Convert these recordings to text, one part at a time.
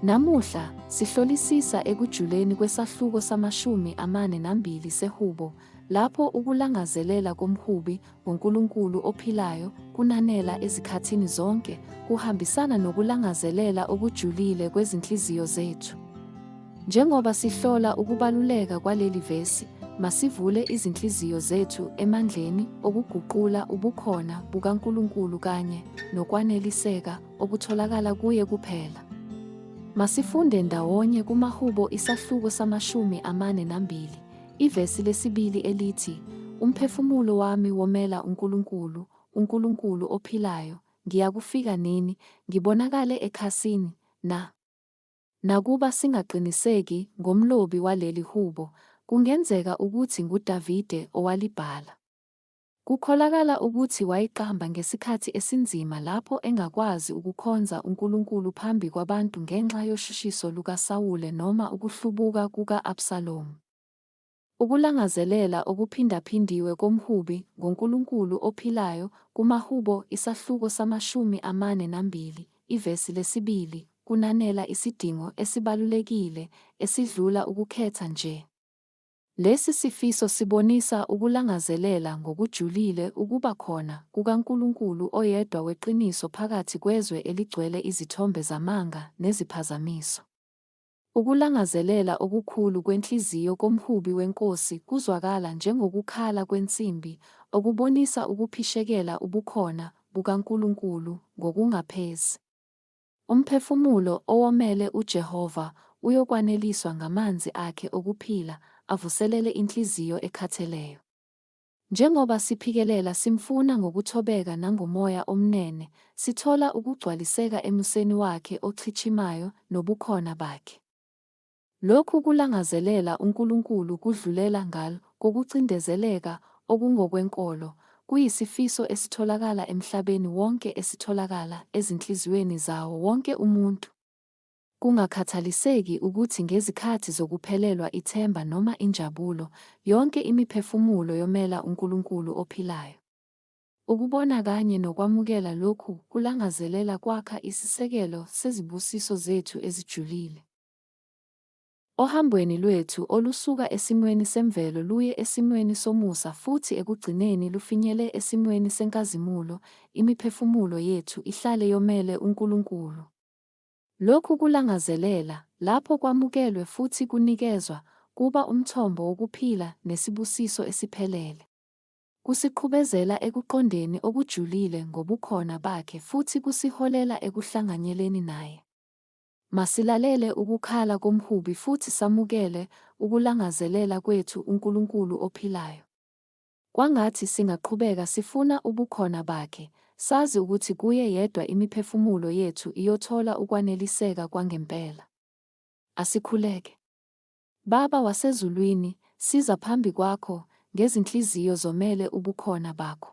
Namuhla, sihlolisisa ekujuleni kwesahluko samashumi amane nambili seHubo, lapho ukulangazelela komhubi ngoNkulunkulu ophilayo kunanela ezikhathini zonke, kuhambisana nokulangazelela okujulile kwezinhliziyo zethu. Njengoba sihlola ukubaluleka kwaleli vesi, masivule izinhliziyo zethu emandleni okuguqula ubukhona bukaNkulunkulu kanye nokwaneliseka okutholakala kuye kuphela. Masifunde ndawonye kumaHubo isahluko samashumi amane nambili, ivesi lesibili elithi, Umphefumulo wami womela uNkulunkulu, uNkulunkulu ophilayo, ngiyakufika nini, ngibonakale ekhasini, na? Nakuba singaqiniseki ngomlobi waleli hubo, kungenzeka ukuthi nguDavide owalibhala. Kukholakala ukuthi wayiqamba ngesikhathi esinzima lapho engakwazi ukukhonza uNkulunkulu phambi kwabantu ngenxa yoshushiso lukaSawule noma ukuhlubuka kuka-Absalomu. Ukulangazelela okuphindaphindiwe komhubi ngoNkulunkulu ophilayo, kumaHubo isahluko samashumi amane nambili, ivesi lesibili, kunanela isidingo esibalulekile esidlula ukukhetha nje. Lesi sifiso sibonisa ukulangazelela ngokujulile ukuba khona kukaNkulunkulu oyedwa weqiniso phakathi kwezwe eligcwele izithombe zamanga neziphazamiso. Ukulangazelela okukhulu kwenhliziyo komhubi wenkosi kuzwakala njengokukhala kwensimbi, okubonisa ukuphishekela ubukhona bukaNkulunkulu ngokungaphezi. Umphefumulo owomele uJehova uyokwaneliswa ngamanzi akhe okuphila, avuselele inhliziyo ekhatheleyo. Njengoba siphikelela simfuna ngokuthobeka nangomoya omnene, sithola ukugcwaliseka emuseni wakhe ochichimayo nobukhona bakhe. Lokhu kulangazelela uNkulunkulu kudlulela ngal kokucindezeleka okungokwenkolo, kuyisifiso esitholakala emhlabeni wonke esitholakala ezinhliziyweni zawo wonke umuntu. Kungakhathaliseki ukuthi ngezikhathi zokuphelelwa ithemba noma injabulo, yonke imiphefumulo yomela uNkulunkulu ophilayo. Ukubona kanye nokwamukela lokhu kulangazelela kwakha isisekelo sezibusiso zethu ezijulile. Ohambweni lwethu olusuka esimweni semvelo luye esimweni somusa futhi ekugcineni lufinyele esimweni senkazimulo, imiphefumulo yethu ihlale yomele uNkulunkulu. Lokhu kulangazelela, lapho kwamukelwe futhi kunikezwa, kuba umthombo wokuphila nesibusiso esiphelele. Kusiqhubezela ekuqondeni okujulile ngobukhona Bakhe futhi kusiholela ekuhlanganyeleni Naye. Masilalele ukukhala komhubi futhi samukele ukulangazelela kwethu uNkulunkulu ophilayo. Kwangathi singaqhubeka sifuna ubukhona Bakhe, sazi ukuthi Kuye yedwa imiphefumulo yethu iyothola ukwaneliseka kwangempela. Asikhuleke. Baba waseZulwini, siza phambi Kwakho, ngezinhliziyo zomele ubukhona Bakho.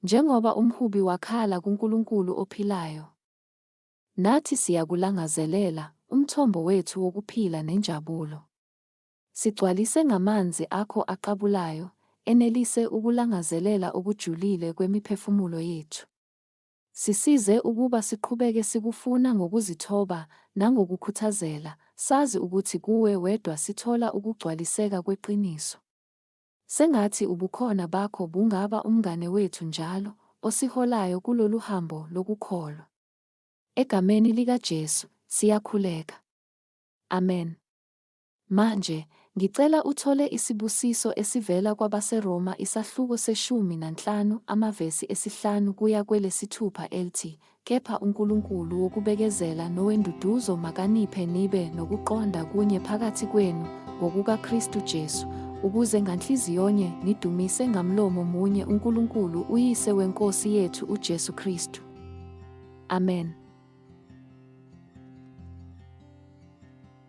Njengoba umhubi wakhala kuNkulunkulu ophilayo, nathi siyakulangazelela, umthombo wethu wokuphila nenjabulo. Sigcwalise ngamanzi akho aqabulayo, enelise ukulangazelela okujulile kwemiphefumulo yethu. Sisize ukuba siqhubeke sikufuna ngokuzithoba nangokukhuthazela, sazi ukuthi kuwe wedwa sithola ukugcwaliseka kweqiniso. Sengathi ubukhona bakho bungaba umngane wethu njalo, osiholayo kulolu hambo lokukholwa. EGameni likaJesu, siyakhuleka. Amen. Manje, ngicela uthole isibusiso esivela kwabaseRoma isahluko seshumi nanhlanu amavesi esihlanu kuya kwelesithupha elthi, Kepha uNkulunkulu wokubekezela nowenduduzo makaniphe nibe nokuqonda kunye phakathi kwenu, ngokukaKristu Jesu, ukuze nganhliziyonye nidumise ngamlomo munye uNkulunkulu uYise weNkosi yethu uJesu Kristu. Amen.